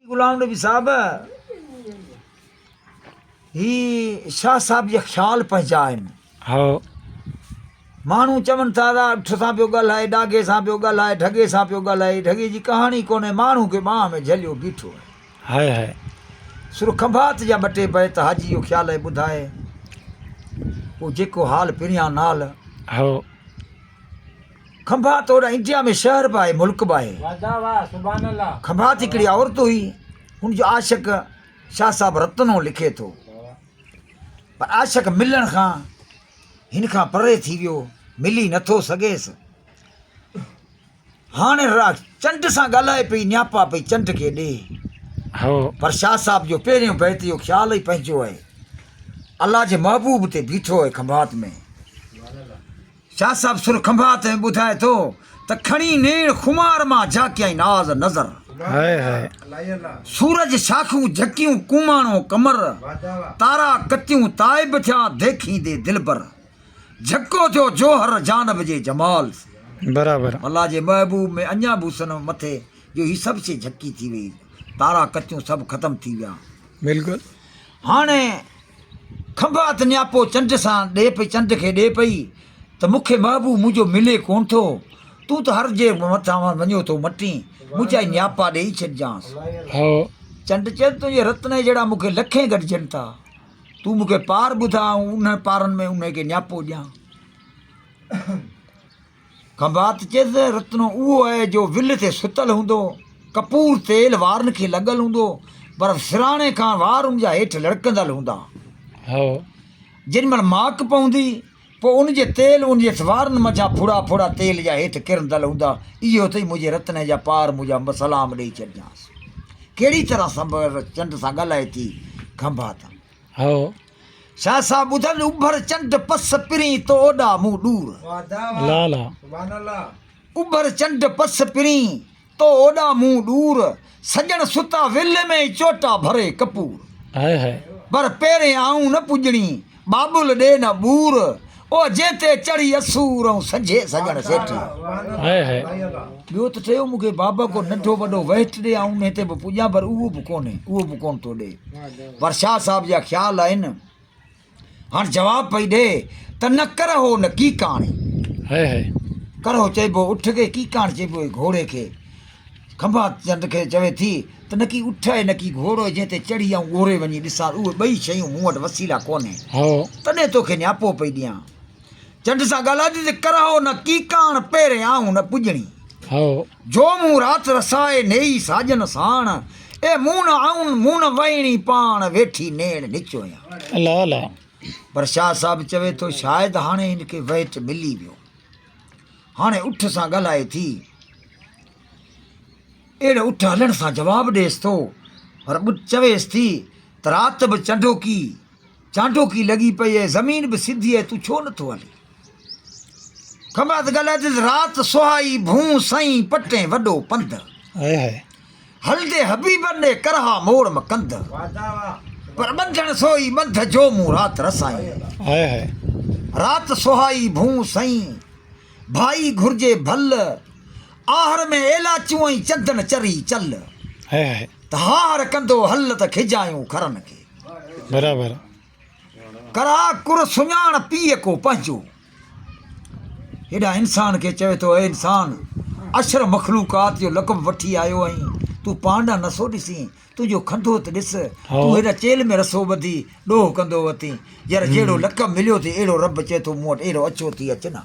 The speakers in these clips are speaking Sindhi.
غلام نبي صاحب هي شاهه صاحب جي خيال پنهنجا آهن هو ماڻهو چون ٿا ته اٺ سان پيو ڳالهائي ڏاگي سان پيو ڳالهائي ڍڳي سان پيو ڳالهائي ڍڳي جي ڪهاڻي ڪونهي ماڻهو کي ٻانهن ۾ جهليو بيٺو آهي هاء هاء سر کنڀات جا ٻه ٽي بيت حاجي جو خيال آهي ٻڌائي پوء جيڪو حال پريان نال هو کنڀا توڙ انڊيا ۾ شهر به آهي ملڪ به آهي کنڀات هڪڙي عورت هئي هن جو عاشق شاهه صاحب رتن هو لکي ٿو پر عاشق ملڻ کان هن کان پري ٿي ويو ملي نٿو سگهيس هاڻي را چنڊ سان ڳالهائي پئي نياپا پئي چنڊ کي ڏي پر شاهه صاحب جو پهريون بيت جو خيال ئي پنهنجو آهي الله جي محبوب تي بيٺو آهي کنڀات ۾ شاهه صاحب سر کنڀات ۾ ٻڌائي ٿو ته کڻي نيڻ خمار مان جاکيائين ناز نظر سورج شاخون جهڪيون ڪوماڻو قمر تارا ڪتيون تائب ٿيا ديکيندي دلبر جهڪو ٿيو جوهر جانب جي جمال سين برابر الله جي محبوب ۾ اڃا به حسن مٿي جو هي سڀ شي جهڪي ٿي وئي تارا ڪتيون سڀ ختم ٿي ويا بلڪل هاڻي کنڀات نياپو چنڊ سان ڏي پئي چنڊ کي ڏي پئي ته مون کي محبوب منهنجو ملي ڪونه ٿو تون ته هر جي مٿان وڃو ٿو مٽين منهنجا نياپا ڏيئي ڇڏجانس هو چنڊ چيس تنهنجي رتني جهڙا مون کي لکين گڏجن ٿا تون مون کي پار ٻڌاء آئون انهن پارن ۾ انهي کي نياپو ڏيان کنڀات چيس، رتنو اهو اهي جو ول تي ستل هوندو، ڪپور تيل وارن کي لڳل هوندو، پر سرهاڻي کان وار ان جا هيٺ لڙڪندل هوندا. هو. جن مهل ماڪ پوندي، پوء ان جي تيل ان جي وارن منجهان ڦڙا ڦڙا تيل جا هيٺ ڪرندل هوندا. اهو اٿئي منهنجي رتني جا پار مون جا سلام ڏئي ڇڏجانس. ڪهڙي طرح سنبر چنڊ سان ڳالهائي ٿي، کنڀات. هو. شاهه صاحب ٻڌل اڀر چنڊ پس پرين تو اوڏا مون ڏور. لالا. اڀر چنڊ پس پرين تو اوڏا مون ڏور سڄڻ ستا ول ۾ چوٽا ڀري ڪپور. پر پيرين آئون نه پڄڻي ٻاٻل ڏي نه ٻور او جنهن تي چڙهي اسور ائون سجهي سڄڻ سيٺي. High high. ٻيو ته ٺهيو مون کي بابا ڪو ننڍو وڏو وهٽ ڏي آئون انهي تي به پڄان پر اهو به ڪونهي اهو به ڪونه ٿو ڏي پر شاهه صاحب جا خيال آهن هاڻ جواب پئي ڏي ته نه ڪرهو نه ڪيڪاڻي. High high. ڪرهو چئبو اٺ کي ڪيڪاڻ چئبو هي گهوڙي کي کنڀات چنڊ کي چوي ٿي ته نڪي اٺ اي نڪي گهوڙو جنهن تي چڙهي آئون اوري وڃي ڏسان اهي ٻئي شيون مون وٽ وسيلا ڪونهي تڏهن توکي نياپو پئي ڏيان چنڊ سان ڳالهائجي ته ڪرهو نه ڪيڪاڻ پيري آئون نه پڄڻي جو مون رات رسائي نيئي ساڄن ساڻ اي مون نه آئون مون نه وهيڻي پاڻ ويٺي نيڻ نچويان پر شاهه صاحب چوي ٿو شايد هاڻي هن کي وهٽ ملي ويو. هاڻي اٺ سان ڳالهائي ٿي. اهڙو اٺ هلڻ سان جواب ڏيس ٿو، پر ٻٽ چويس ٿي ته رات به چنڊوڪي، چانڊوڪي، لڳي پئي ۽ زمين به سڌي آهي، تون ڇو نٿو هلين؟ کمرات ڳالهائي ٿي ته رات سهائي ڀونء سئين پٽين وڏو پنڌ. هلندي حبيبن ڏي ڪرها موڙ م ڪنڌ پر ٻنڌڻ سوئي ٻنڌ جو مون رات رسائين رات سهائي ڀون سئين ڀائي گهرجي ڀل آهر ۾ ايلاچون ۽ چندن چري چل ته هاهر ڪندو هل ته کجايون کرن کي برابر ڪرا ڪر سڃاڻ پيء ڪو پنهنجو. هيڏانهن انسان کي چوي ٿو، اي انسان! اشرف مخلوقات جو لقب وٺي آيو آهين، تون پاڻ ڏانهن نسو ڏسين، تنهنجو کنڌوت ڏس، تون هيڏا چيلهه ۾ رسو ٻڌي ڏوهه ڪندو وتين، يار جهڙو لقب مليو ٿي، اهڙو رب چئي ٿو مون وٽ اهڙو اڇو ٿي اچ نه.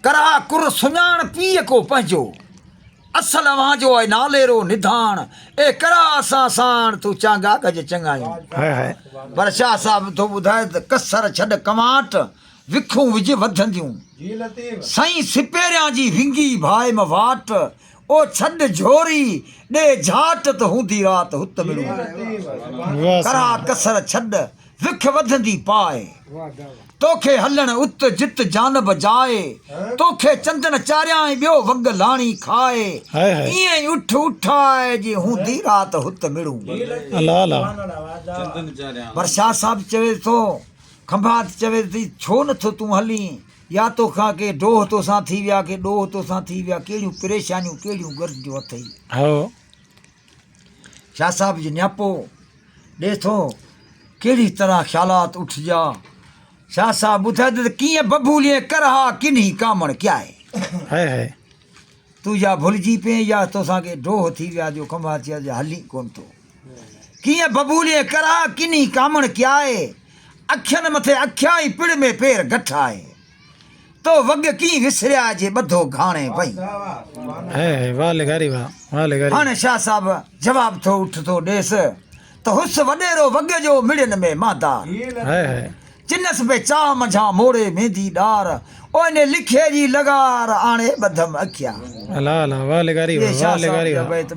ڪرا ڪر سڃاڻ پيء ڪو پنهنجو، اصل اوهان جو آء ناليرو نڌاڻ، اي ڪرا اسان ساڻ ٿو چانگا گج چڱايون. پر شاهه صاحب ٿو ٻڌائي ته ڪسر ڇڏ ڪنواٽ، وکون وجهه وڌنديون. سائين سپهريان جي ونگي ڀائم واٽ، او ڇڏ جھوري، ڏي جھاٽ تھ ھوندي رات ھت مڙون ڪري. ڪرا ڪسر ڇڏ، وک وڌندي پاء. توکي ھلڻ ات جت جانب جاء. توکي چندڻ چاريائين ٻيو وڳ لاڻي کاء. ايئن ئي اٺ اٺاء جي ھوندي رات ھت مڙون. ڀرشا صاحب چوي ٿو، کنڀات چوي ٿي، ڇو نٿو تون ھلين؟ يا توکان ڪي ڊوهه توسان ٿي ويا ڪي ڏوهه توسان ٿي ويا ڪهڙيون پريشانيون ڪهڙيون گرجون اٿئي. هو. شاهه صاحب جي نياپو ڏي ٿو ڪهڙي طرح خيالات اٺجيا شاهه صاحب ٻڌائي ته ڪيئن ببوليئي ڪرها ڪنهي ڪامڻ ڪيائي. هائي هائي. تون يا ڀلجي پين يا توسان ڪي ڊوهه ٿي ويا جو ڪنڀار چيس جو هلين ڪونه ٿو ڪيئن ببوليء ڪرا ڪني ڪامڻ ڪيائي اکين مٿي اکيائي پڙ ۾ پير گٺائي تو وڳ ڪين وسريا جي ٻڌو گهاڻي وئين هاڻي شاهه صاحب جواب ٿو اٺ ٿو ڏيس ته هوس وڏيرو وڳ جو مڙين ۾ مادار جنس به چاهه منجهان موڙي ميندي ڏار، اوهني لکيء جي لغار آڻي ٻڌم اکيان. الا الا واھ لغاري واھ واھ لغاري واھ.